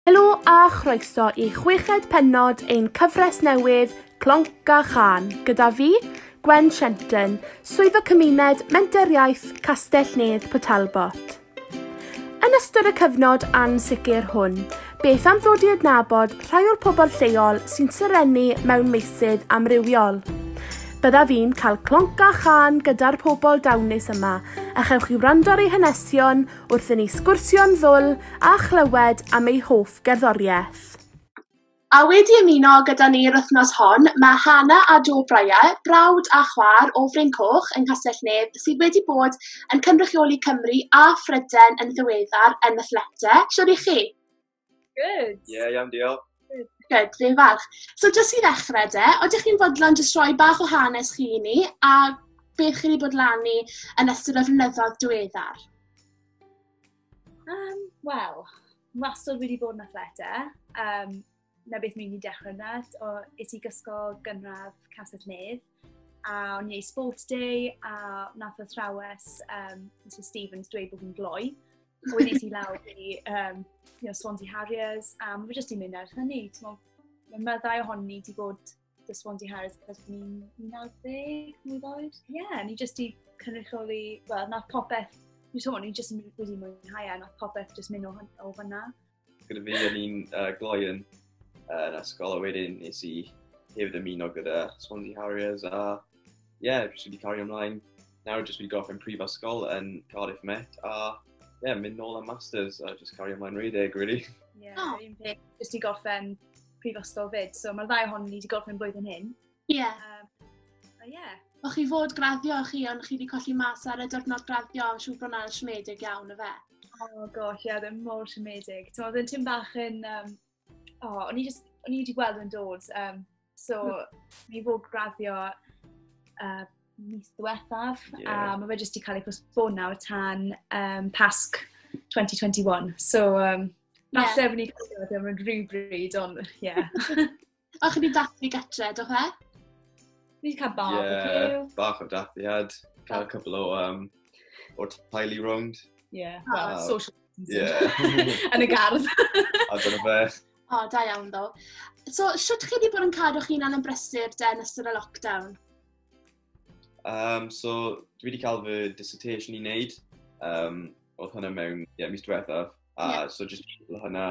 Helo a chroeso i chweched pennod ein cyfres newydd Clonc a Chan gyda fi, Gwen Shenton, Swyddog Cymuned Menter Iaith Castell Nedd Port Talbot. Yn ystod y cyfnod ansicr hwn, beth am ddod i adnabod rhai o'r pobl lleol sy'n serennu mewn meysydd amrywiol? Byddaf fi'n cael clonc a chan gyda'r pobl dawnus yma a chewch chi wrando ar eu hanesion wrth i ni sgwrsio'n ddwl a chlywed am ei hoff gerddoriaeth. A wedi ymuno gyda ni yr wythnos hon, mae Hana a Joe Bryer, brawd a chwaer o Fryn Coch yng Nghastell Nedd, sydd wedi bod yn cynrychioli Cymru a Phrydain yn ddiweddar yn y Flete. Siwr i chi? Good. Ie, yeah, iawn, diolch. Good, fi'n falch. So, jyst i ddechrau de, oeddech chi'n fodlon jyst rhoi bach o hanes chi i ni, a beth chi wedi bod lan i yn ystod y flynyddoedd diweddar? Um, Wel, wastad wedi bod yn athleta. Um, na beth mi'n i dechrau yna, o, is i gysgol gynradd Castell Nedd. a o'n i'n sport day, a nath o thrawes um, Mr Stevens dweud bod fi'n gloi. A wedyn i lawr i um, you know, Swansea Harriers, a mae jyst i'n mynd ar hynny. Mae meddai ohoni ni wedi bod dy Swansea Harriers cos ni'n 19, mwy ddoed. Ie, yeah, ni jyst i cynrychioli, wel, nath popeth, ni jyst wedi mwynhau e, nath popeth jyst mynd o, o fyna. Gyda fi o'n i'n uh, gloi yn uh, ysgol a wedyn nes i hefyd ymuno gyda Swansea Harriers a ie, yeah, jyst wedi cario ymlaen. Nawr jyst wedi gorffen prifysgol yn Cardiff Met a ie, yeah, mynd nôl am Masters a jyst cario ymlaen rhedeg, really. Ie, yeah, oh. un peth, jyst i gorffen prifysgol fyd. So mae'r ddau ohon ni wedi gorffen blwyddyn hyn. Ie. Yeah. Um, ie. Yeah. O'ch chi fod graddio chi, ond chi wedi colli mas ar y diwrnod graddio, siw bod hwnna'n siomedig iawn, y fe? Oh gosh, ie, yeah, ddim mor siomedig. Ti'n meddwl, ti'n bach yn... Um, oh, o'n i just, o'n i wedi gweld yn dod. Um, so, hmm. ni fod graddio uh, mis diwethaf, yeah. a mae fe jyst wedi cael ei postpono tan um, Pasg 2021. So, um, falle yeah. fy ni cael ei ddim yn rhywbryd, ond ie. Yeah. O, chi wedi dathlu gatre, do fe? Ni wedi cael bach yeah, o cyw. bach o dathliad. Cael cwbl o, um, o taili rownd. Yeah, oh. well, uh, social Yeah. yn y gardd. a dyna fe. O, oh, da iawn ddo. So, sut chi wedi bod yn cadw chi'n hunan yn brysur den ystod y lockdown? Um, so, dwi wedi cael fy dissertation i wneud. Um, oedd hynna mewn yeah, mis diwethaf. A yeah. so, just hynna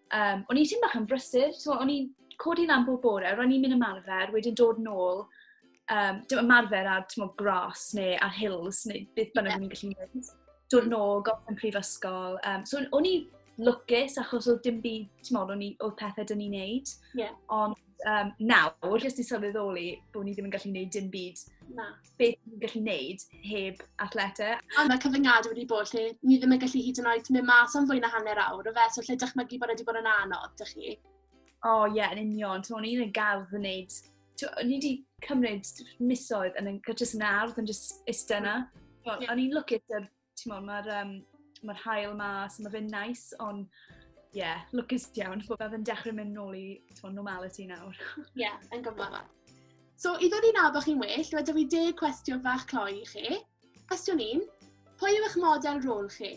Um, o'n i'n ti'n bach yn brysur, so o'n i'n codi lan bob bore, ro'n i'n mynd ymarfer, wedyn dod nôl, um, dim ymarfer ar mo, gras neu ar hills neu beth bynnag yeah. o'n i'n gallu gwneud. Dod nôl, gofyn yn prifysgol. Um, so o'n i lwcus achos oedd dim byd, ti'n modd, o'n i, oedd pethau dyn ni'n neud. Yeah. Ond um, nawr, jyst i sylweddoli bod ni ddim yn gallu neud dim byd. Na. beth ni'n gallu neud heb athleta. A mae cyfyngad wedi bod lle ni ddim yn gallu hyd yn oed mynd mas am fwy na hanner awr o fe, so lle dychmygu bod wedi bod yn anodd, dych chi? O oh, ie, yeah, yn union. To'n i'n y gardd yn neud... Ni wedi cymryd misoedd yn y gytras yn ardd yn just ista yna. O'n i'n lwcus yr Timod, mae'r um, ma hael mas, mae fe'n nice, ond ie, yeah, lwcus iawn bod fe'n dechrau mynd nôl i twa, normality nawr. Ie, yeah, yn gyfle fa. So, i ddod i nab o'ch chi'n well, dwi wedi fi deg cwestiwn fach cloi i chi. Cwestiwn un, pwy yw eich model rôl chi?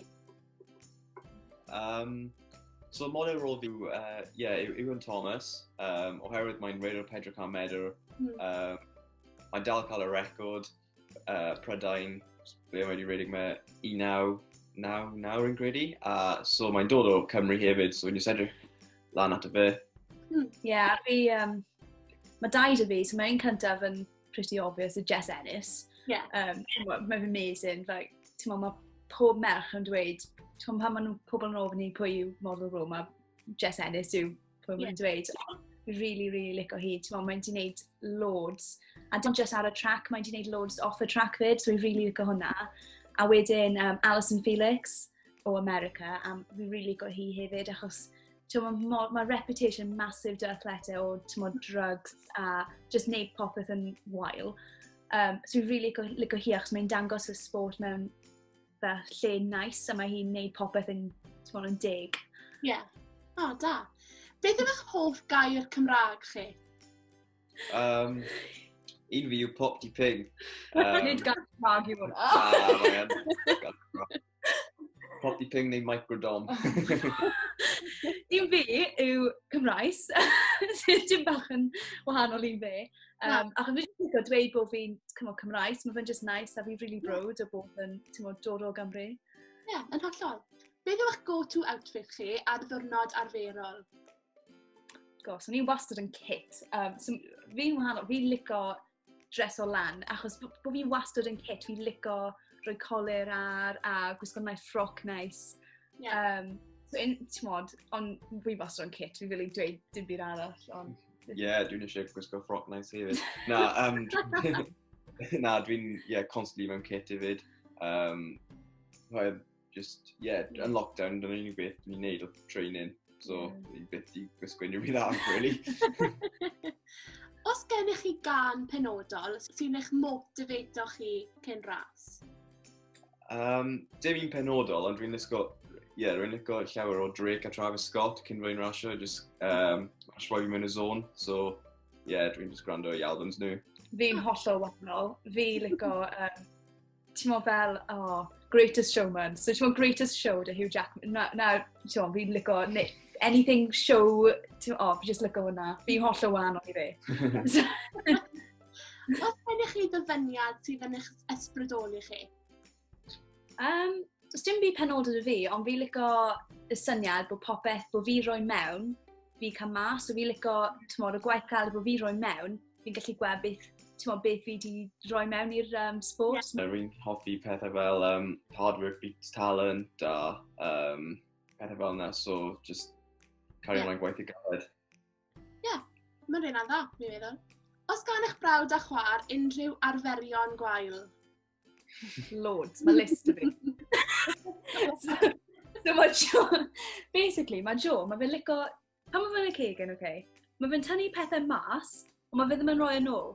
Um, so, model rôl fi, ie, uh, yeah, Iwan Thomas, um, oherwydd mae'n reidr Pedro Can Medr, mm. um, mae'n dal cael y record, uh, Prydain, ble mae wedi redig mae 1999 yn gredi, a so mae'n dod o Cymru hefyd, so ni'n sedrych lan at y fe. Hmm, ie, hmm, yeah, fi, um, mae daid y fi, so mae'n cyntaf yn pretty obvious, y Jess Ennis. Yeah. Um, mae fy amazing, like, ti'n meddwl, mae pob merch yn dweud, ti'n meddwl, pan maen nhw pobl yn ofyn i pwy yw model rôl, mae Jess Ennis yw pwy mae'n dweud, really, really lico hi. Ti'n meddwl, mae'n di wneud loads. A dim just ar y track, mae'n di wneud loads off y track fyd, so fi'n really lico hwnna. A wedyn um, Alison Felix o America, a fi'n really lico hi hefyd, achos mae ma reputation massive dy athlete o mo, drugs a just neud popeth yn wael. Um, so fi'n really lico, lico hi, achos mae'n dangos y sport mewn fel lle nice a mae hi'n neud popeth yn, ti'n yn deg. Ie. Yeah. O, oh, da. Beth yw'ch hoff gair Cymraeg chi? Um, un fi yw pop di ping. Um, Nid gair Cymraeg i hwnna. Pop di ping neu microdom. un fi yw Cymraes, sydd dim bach yn wahanol i fe. Um, ac yn rili gwybod dweud bod fi'n cymryd Cymraeg, so mae fe'n just nice, a fi'n really brod o bod yn tymod, dod o Gymru. Ie, yeah, yn hollol. Beth yw'ch go-to outfit chi ar ddwrnod arferol? Gos, o'n i'n wastad yn kit. Um, so, fi'n wahanol, fi'n lico dres o lan, achos bod bo fi'n wastad yn kit, fi'n lico rhoi colir ar a gwisgo nice ffroc nice. Yeah. Um, so, in, tymod, ond fi'n wastad yn kit, fi'n really dweud dim byd arall, ond Ie, yeah, dwi'n eisiau gwisgo ffroc nice hefyd. Na, um, na, dwi'n yeah, constantly mewn kit hefyd. Um, Rhaid, just, yeah, yn lockdown, dyna unig beth dwi'n ei wneud o training. So, dwi'n beth i gwisgo unrhyw beth arall, really. Os gennych chi gan penodol sy'n eich motivato chi cyn ras? Um, dim un penodol, ond rwy'n licio, yeah, rwy'n licio llawer o Drake a Travis Scott cyn fwy'n rasio, just um, rhoi fi mewn y zone, so yeah, rwy'n just gwrando i albums nhw. Fi'n hollol wahanol, fi licio, um, ti'n mo fel, oh, Greatest Showman, so ti'n mo Greatest Show dy Hugh Jackman, na, na ti'n mo, fi'n licio, anything show, ti'n mo, oh, fi just licio hwnna, fi'n hollol wahanol i fi. Os gennych chi ddyfyniad sydd yn eich ysbrydoli chi? Um, Does dim byd penodol i fi, ond fi licio y syniad bod popeth bod fi roi mewn, fi cael mas, so fi licio, tymor, y gwaith cael bod fi roi mewn, fi'n gallu gweld beth, tymor, beth fi wedi roi mewn i'r um, sport. Yeah. Rwy'n hoffi pethau fel um, hard work beats talent a um, pethau fel yna, so just cario yeah. gwaith i galed. Ie, yeah, mae'n rhaid dda, mi feddwl. Os gan eich brawd a chwa'r unrhyw arferion gwael? Loads, mae list o fi. so mae Jo, basically, mae Jo, mae fe'n lico, pan mae fe'n y cegen, oce, okay, mae fe'n tynnu pethau mas, ond mae fe ddim yn rhoi yn ôl.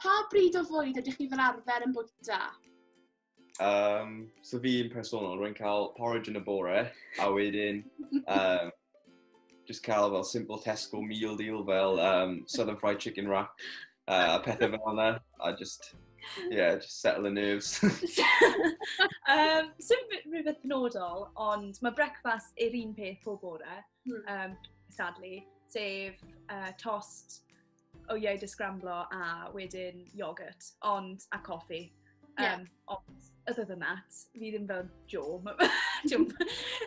pa bryd o fwyd ydych chi fel arfer yn bwyta? Um, so fi yn personol, rwy'n cael porridge yn y bore, a wedyn um, just cael fel simple Tesco meal deal fel um, southern fried chicken wrap uh, a pethau fel yna, a just, yeah, just settle the nerves. um, Sym rhywbeth penodol, ond mae breakfast yr un peth pob bore, hmm. um, sadly, sef uh, tost, o iau dy sgramblo a wedyn yoghurt, ond, a coffi. Yeah. Um, ond, other than that, fi ddim fel Joe. Joe,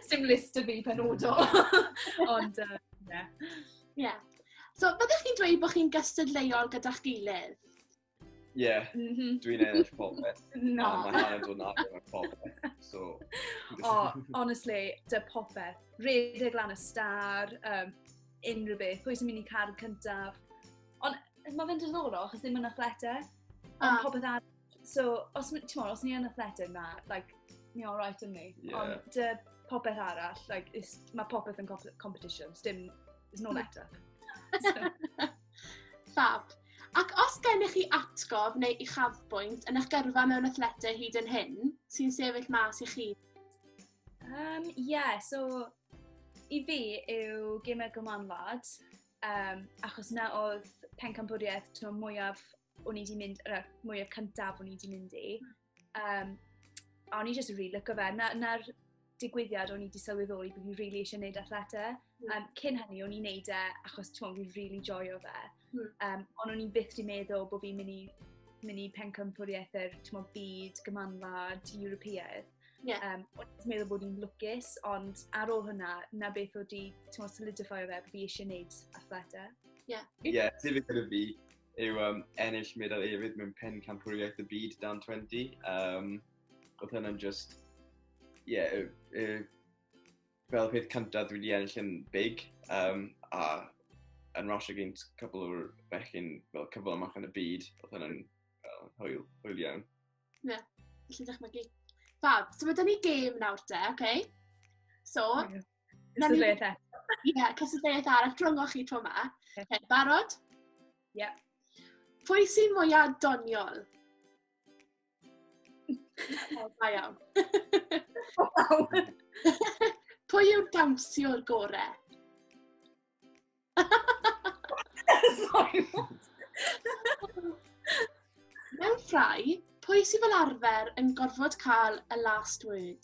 dim list o fi penodol. ond, um, yeah. Yeah. So, byddwch chi'n dweud bod chi'n gystadleuol gyda'ch gilydd? Ie, mhm. dwi'n ennill popeth. Na. Mae hanner dod na ar popeth. So... o, honestly, dy popeth. Redeg lan y star, um, unrhyw beth, pwy sy'n mynd i car yn cyntaf. Ond mae fe'n diddorol, achos ddim yn athlete. Ond ah. popeth ar... So, os, ti'n os ni yn athlete na, like, ni all right yn ni. Yeah. Ond dy popeth arall, like, mae popeth yn competition. Dim, there's no let up. So. Fab. Ac os gennych chi atgof neu uchafbwynt yn eich gyrfa mewn athletau hyd yn hyn, sy'n sefyll mas i chi? Um, yeah, so i fi yw Gamer Gyman Lad, um, achos na oedd pencampwriaeth tro mwyaf o'n i wedi mynd, er, mwyaf cyntaf o'n i wedi mynd i. Hmm. Um, a o'n i jyst yn rili lyco fe. Na'r na, na digwyddiad o'n i wedi sylweddoli bod fi rili really eisiau gwneud athleta. Mm. Um, cyn hynny, o'n i'n gwneud e achos ti'n fi'n rili really joio fe. Mm. Um, ond o'n i'n byth wedi meddwl bod fi'n mynd i mynd i pencampwriaethau'r byd gymanlad Europeaidd. Yeah. Um, o'n i'n meddwl bod i'n lwcus, ond ar ôl hwnna, na beth o di, ti'n meddwl, solidifio fe, bod fi eisiau gwneud athleta. Ie. Yeah. Ie, yeah, ti fi gyda fi. yw um, ennill medal efydd mewn pen campwriaeth y byd dan 20. Um, oedd hynny'n just, ie, yeah, y, y, fel peth cyntaf dwi wedi ennill yn big, um, a yn rasio gynt cwbl o'r bechyn fel cyfle amach yn y byd, oedd hynny'n well, hwyl, hwyl iawn. Ie, yeah, felly ddechmygu. Fab, so mae dyn ni gêm nawr te, oce? Okay? So, yeah. Cystadleuaeth eto. Ie, yeah, cystadleuaeth arall drwyngoch chi tro ma. Okay, barod? Ie. Yeah. Pwy sy'n mwyaf doniol? Da iawn. Pwy yw'r dawnsio'r gore? Mewn ffrau, pwy sy'n fel arfer yn gorfod cael y last word?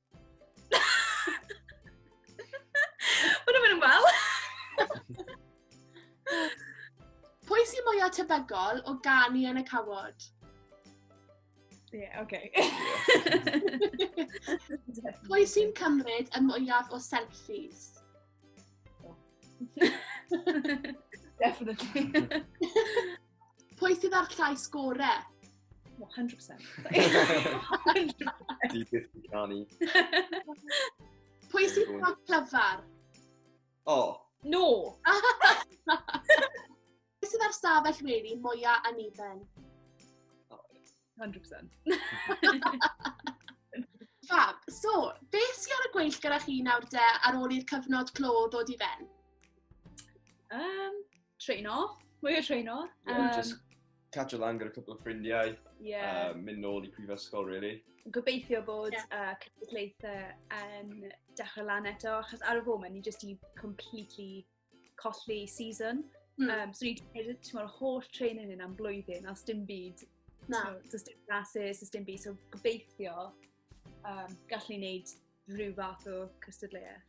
Mae'n mynd yn wel. Pwy sy'n mwyaf tebygol o ganu yn y cawod? Ie, yeah, oce. Okay. Pwy sy'n cymryd y mwyaf o selfies? Definitely. Pwy sydd â'r llais gore? 100%. 100%. Di byth yn canu. Pwy sydd â'r clyfar? O. Oh. No. Pwy sydd â'r stafell weli mwyaf aniben? 100%. Fab, so, beth sy'n ar y gweill gyda chi nawr de ar ôl i'r cyfnod clo ddod i ben? Um, train off, mwy o train off. Yeah, um, just catch a lan gyda cwpl o ffrindiau, yeah. um, mynd nôl i prifysgol, really. Gobeithio bod yeah. uh, cystadlaethau yn dechrau lan eto, achos ar y foment ni jyst i completely colli season. Mm. Um, so ni'n gwneud tymor holl training yn am blwyddyn, os dim byd. Na. So, does dim classes, does dim byd. So gobeithio um, gallu ni wneud rhyw fath o cystadleuaeth.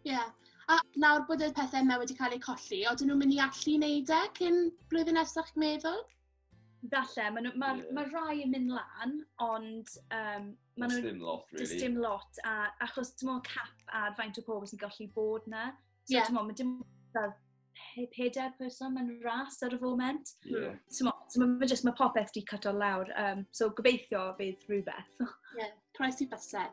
Ie. Yeah. A nawr bod y pethau yma wedi cael eu colli, oedden nhw'n mynd i allu wneud e cyn blwyddyn nesaf chi'n meddwl? Falle, mae ma, yeah. ma rai yn mynd lan, ond... Um, ma dim lot, really. Does dim lot, a, achos dim ond cap ar faint o pobl sy'n gallu bod na. So, yeah. ti'n meddwl, mae dim pedair person mewn ras ar y foment. Yeah. So, mae just, mae popeth di cut o lawr. Um, so, gobeithio fydd rhywbeth. Ie, yeah, croes i basau.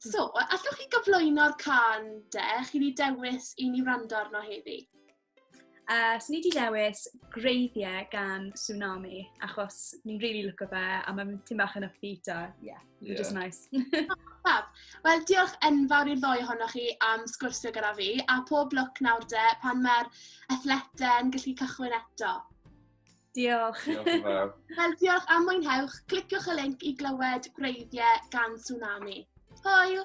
So, allwch chi gyflwyno'r can de, chi wedi dewis i ni wrando arno heddi? Uh, so ni wedi dewis greiddiau gan Tsunami, achos ni'n really look o fe, a mae'n tyn bach yn upbeat a, yeah. which yeah. is nice. Fab. Wel, diolch enfawr i'r ddoi ohonoch chi am sgwrsio gyda fi, a pob lwc nawr de, pan mae'r athletau'n gallu cychwyn eto. Diolch. Diolch Wel, diolch am mwynhewch. Cliciwch y link i glywed gwreiddiau gan Tsunami. Hwyl!